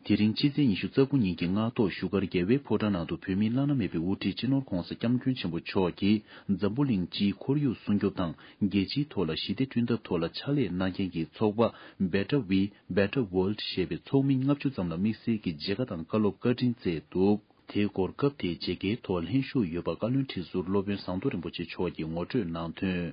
དེ་རིང་ཕྱི་ཚེས་ཉི་ཤུ་རྩ་དགུ་ཉིན་གྱི་སྔ་ཐོག་བཞུགས་སྒར་རྒྱལ་བའི་ཕོ་བྲང་ནང་དུ་བོད་མི་བླ་ན་མེད་པའི་དབུ་ཁྲིད་སྤྱི་ནོར ྋགོང་ས ྋསྐྱབས་མགོན་ཆེན་པོ་མཆོག་གིས་འཛམ་བུ་གླིང་སྤྱིའི་ཁོར་ཡུག་སྲུང་སྐྱོབ་དང་རྒྱལ་སྤྱིའི་ཐོག་ལ་ཞི་བདེ་བསྐྲུན་ཐབས་ཐོག་ལ་ཕྱག་ལས་གནང་མཁན་གྱི་ཚོགས་པ Better We Better World ཞེས་པའི་ཚོགས་མི་ལྔ་བཅུ་ཙམ་ལ་དམིགས་བསལ་གྱི་མཇལ་ཁ་དང་བཀའ་སློབ་བཀའ་དྲིན་བསྩལ་འདུག་དེའི་སྐོར་སྐབས་དེའི་མཇལ་ཁའི་ཐོག་ལྷན་ཞུགས་ཡོད་པ་བཀའ་བློན་ཁྲི་ཟུར་སློབ་དཔོན་ཟངས་མདོག་རིན་པོ་ཆེ་མཆོག་གིས་ངོ་སྤྲོད་གནང་དོན།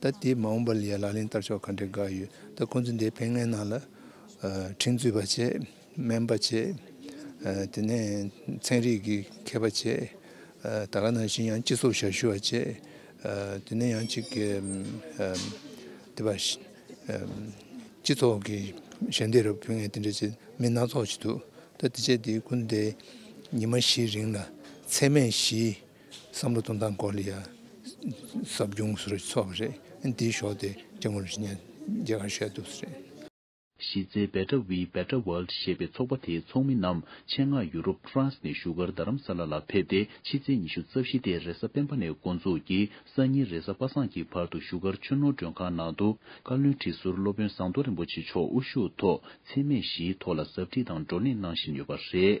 ད་ལྟའི་མ་འོངས་པ་ལ་ཡང་ལག་ལེན་བསྟར་ཕྱོགས་ག་འདྲའི་དགའ་ཡོད་ད་ཁོང་ཚོས་འདས་པའི་སྔན་ནང་ལ་ཁྲིམས་རྩོད་པ་བྱས་སྨན་པ་བྱས་དེ་ནས་ཚན་རིག་གི་མཁས་པ་བྱས་ད་ག་ནང་བཞིན་ཡང་སྤྱི་ཚོགས་ཞབས་ཞུ་བ་བྱས་དེ་ནས་ཡང་ཅིག་དེ་བ་སྤྱི་ཚོགས་ཀྱི་ཞལ་འདེབས་རུ་ཕུལ་ངེས་དེ་འདྲ་བྱས་མི་སྣ་ཚོགས་བྱས་འདུག་ད་དེ་བྱས་དེ་ཀུན་དེ་ཉི་མ་བཞིའི་རིང་ལ་ཚད་མས་བཞི་བསམ་བློ་གཏོང་སྟངས་སྐོར་ལ་ཡང་ཟབ་སྦྱོང་ཞུ་རུ་ཚུགས་པ་རེད། འདིའི་ཕྱོགས་དེ་ཀྲེང་ཝུན་ཧྲི་ཉན་རྒྱ་གར་ཤར་དུས་སུ་རེད། གཞིས་རྩེའི Better We Better World ཞེས་པའི་ཚོགས་པ་དེའི་ཚོགས་མི་རྣམས་ཆེད་མངགས་ཡུ་རོབ France ནས་བཞུགས་སྒར་རྡ་རམ་ས་ལ་ལ་ཕེབས་ཏེ་ཕྱི་ཚེས་ཉི་ཤུ་རྩ་བཞི་སྟེ་རེས་གཟའ་སྤེན་པ་ནས་འགོ་འཛུགས་ཀྱིས་གསར་ཉིན་རེས་གཟའ་པ་སངས་ཀྱི་བར་དུ་བཞུགས་སྒར་ཆུ་ནོར་མགྲོན་ཁང་ནང་དུ་བཀའ་བློན་ཁྲི་ཟུར་སློབ་དཔོན་ཟངས་མདོག་རིན་པོ་ཆེ་མཆོག་དབུ་བཞུགས་ཐོག་འཚེ་མེད་བཞིའི་ཐོག་ལ་ཟབ་ཁྲིད་དང་བགྲོ་གླེང་གནང་བཞིན་ཡོད་པ་རེད།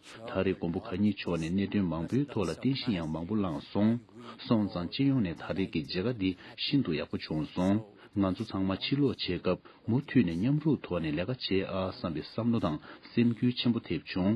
ད་རེས་མགོན་པོ་གང་ཉིད་མཆོག་ནས་གནད་དོན་མང་པོའི་ཐོག་ལ་རྟེན་གཞི་ཡང་མང་པོ་བླངས་སོང། སོང་ཙང་སྤྱི་ཡོངས་ནས་ད་རེས་ཀྱི་མཇལ་ཁ་འདི་ཤིན་ཏུ་ཡག་པོ་བྱུང་སོང། ང་ཚོ་ཚང་མ་ཕྱིར་ལོག་བྱེད་སྐབས་མུ་མཐུད་ནས་མཉམ་རུབ་ཐོག་ནས་ལས་ཀ་བྱེད་ཨ་བསམ་པའི་བསམ་བློ་དང་སེམས་འགུལ་ཆེན་པོ་ཐེབས་བྱུང།